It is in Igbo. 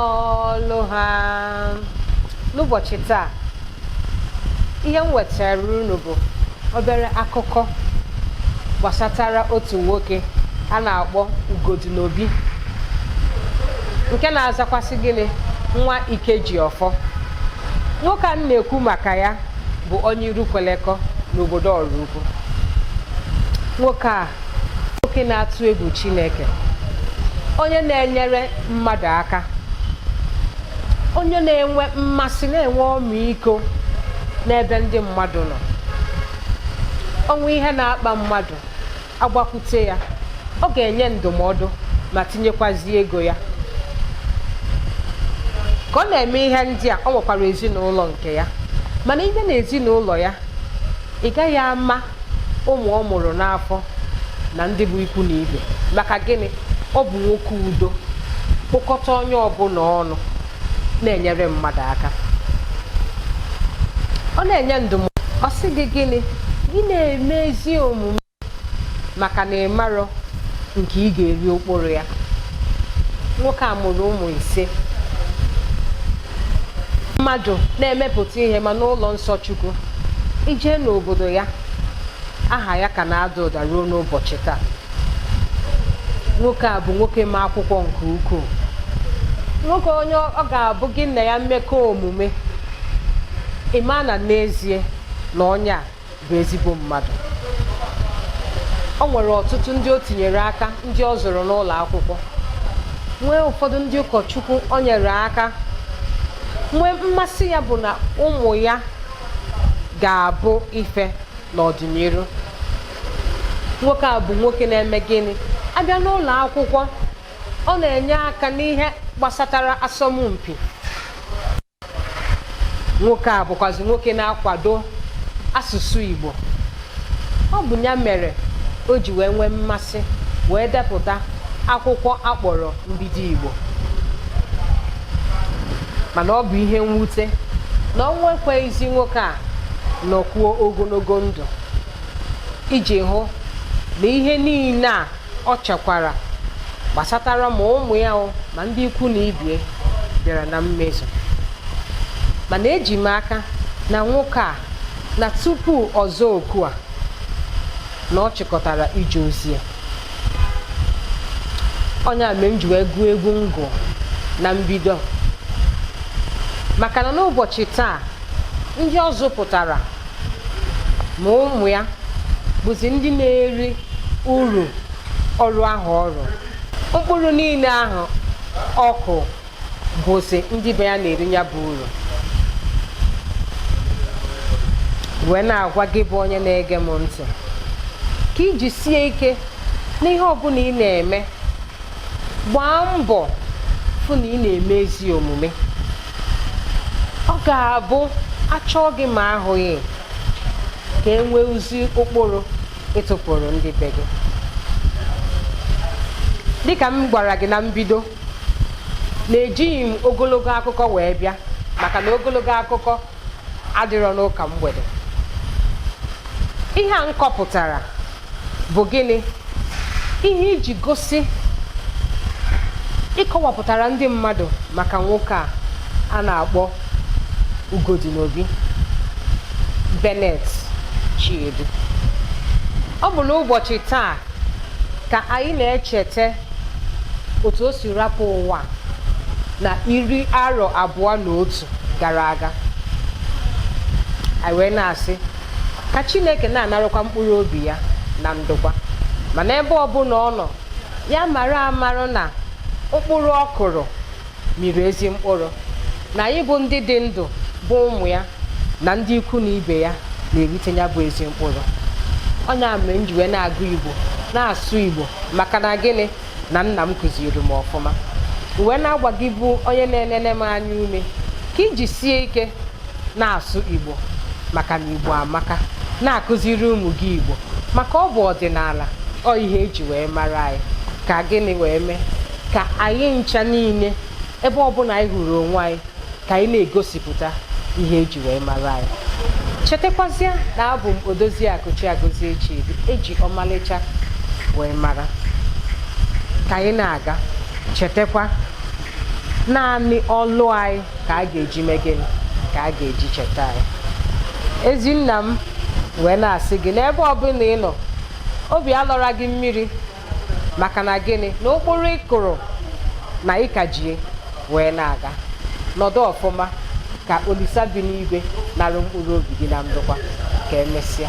ọlụ ha n'ụbọchị taa ihe m wetara unu bụ obere akụkọ gbasatara otu nwoke a na-akpọ Ugodinobi nke na-azakwasị gịnị nwa Ikejiọfọ nwoke a m na-ekwu maka ya bụ onye Irukwelekọ n'obodo Ọraukwu nwoke a nwoke na-atụ egwu Chineke onye na-enyere mmadụ aka onye na-enwe mmasị na-enwe ọmịiko n'ebe ndị mmadụ nọ o nwee ihe na-akpa mmadụ a gbakwute ya ọ ga-enye ndụmọdụ ma tinyekwazi ego ya ka ọ na-eme ihe ndị a o nwekwara ezinụlọ nke ya mana i je n'ezinụlọ ya ị gaghị ama ụmụ ọ mụrụ n'afọ na ndị bụ ikwu na ibe maka gịnị ọ bụ nwoke udo kpokọta onye ọbụla ọnụ na-enyere mmadụ aka ọ na-enye ndụmọdụ ọ sị gị gịnị gị na-eme ezi omume maka na ị marọ nke ị ga-eri mkpụrụ ya nwoke a mụrụ ụmụ ise mmadụ na-emepụta ihe ma n'ụlọ nsọ Chukwu i je n'obodo ya aha ya ka na-ada ụda ruo n'ụbọchị taa nwoke a bụ nwoke ma akwụkwọ nke ukwuu nwoke onye ọ ga-abụ gị na ya mekọọ omume ị ma na n'ezie na onye a bụ ezigbo mmadụ o nwere ọtụtụ ndị o tinyere aka ndị ọ zụrụ n'ụlọ akwụkwọ nwee ụfọdụ ndị ụkọchukwu o nyere aka nwee mmasị ya bụ na ụmụ ya ga-abụ ife n'ọdịnihu nwoke a bụ nwoke na-eme gịnị a bịa n'ụlọ akwụkwọ ọ na-enye aka n'ihe gbasatara asọmpi nwoke a bụkwazi nwoke na-akwado asụsụ Igbo ọ bụ ya mere o ji wee nwee mmasị wee depụta akwụkwọ a kpọrọ Mbido Igbo mana ọ bụ ihe mwute na ọnwụ ekweghịzi nwoke a nọkwuo ogologo ndụ iji hụ na ihe niile a ọ chekwara gbasatara ma ụmụ ya o ma ndị ikwu na ibe ya bịara na mmezu mana eji m aka na nwoke a na tupu ọ zaa oku a na ọ chịkọtara ije ozi ya ọ nya mere m ji wee gụọ egwu m gụ na mbido maka na n'ụbọchị taa ndị ọ zụpụtara ma ụmụ ya bụzi ndị na-eri uru ọrụ ahụ ọ rụ mkpụrụ niile ahụ ọ kụ bụzi ndị be ya na-eri ya bụ uru wee na-agwa gị bụ onye na-ege m ntị ka i jisie ike n'ihe ọbụla ị na-eme gbaa mbọ fụ na ị na-eme ezi omume ọ ga-abụ achọọ gị ma ahụghị ka e nwee ezi ụkpụrụ ị tụpụrụ ndị be gị dịka m gwara gị na mbido na ejighị m ogologo akụkọ wee bịa maka na ogologo akụkọ adịrọ n'ụka mgbede ihe a m kọpụtara bụ gịnị ihe iji gosi ịkọwapụtara ndị mmadụ maka nwoke a a na-akpọ Ugodinobi Bennett Chiedu ọ bụ n'ụbọchị taa ka anyị na-echeta otu o si rapụ ụwa na iri arọ abụọ na otu gara aga anyị wee na-asị ka chineke na-anarakwa mkpụrụ obi ya na ndokwa mana ebe ọbụla ọ nọ ya mara amarụ na mkpụrụ ọ kụrụ mịrị ezi mkpụrụ na anyị bụ ndị dị ndụ bụ ụmụ ya na ndị ikwu na ibe ya na-erite ya bụ ezi mkpụrụ ọ ya mere m ji wee na-agụ igbo na-asụ igbo maka na gịnị na nna m kụziri m ọfụma wee na-agwa gị bụ onye na-enene m anya ume ka i jisie ike na-asụ igbo maka na igbo amaka na-akụziri ụmụ gị igbo maka ọ bụ ọdịnala ọ ihe eji wee mara anyị ka gịnị wee mee ka anyị ncha niile ebe ọbụla anyị hụrụ onwe anyị ka anyị na-egosipụta ihe eji wee mara anyị chetakwazie na abụ m odoziakụ chiagozie chidi eji ọmalịcha wee mara ka anyị na-aga chetakwa naanị ọlụ anyị ka a ga-eji mee gịnị ka a ga-eji cheta anyị ezi nna m wee na-asị gị n'ebe ọbụla ị nọ obi alọla gị mmiri maka na gịnị na ụkpụrụ ị kụrụ na ya ka eji wee na-aga nọdụ ọfụma ka olisa bi n'igwe narụ mkpụrụ obi gị na ndokwa ka emesịa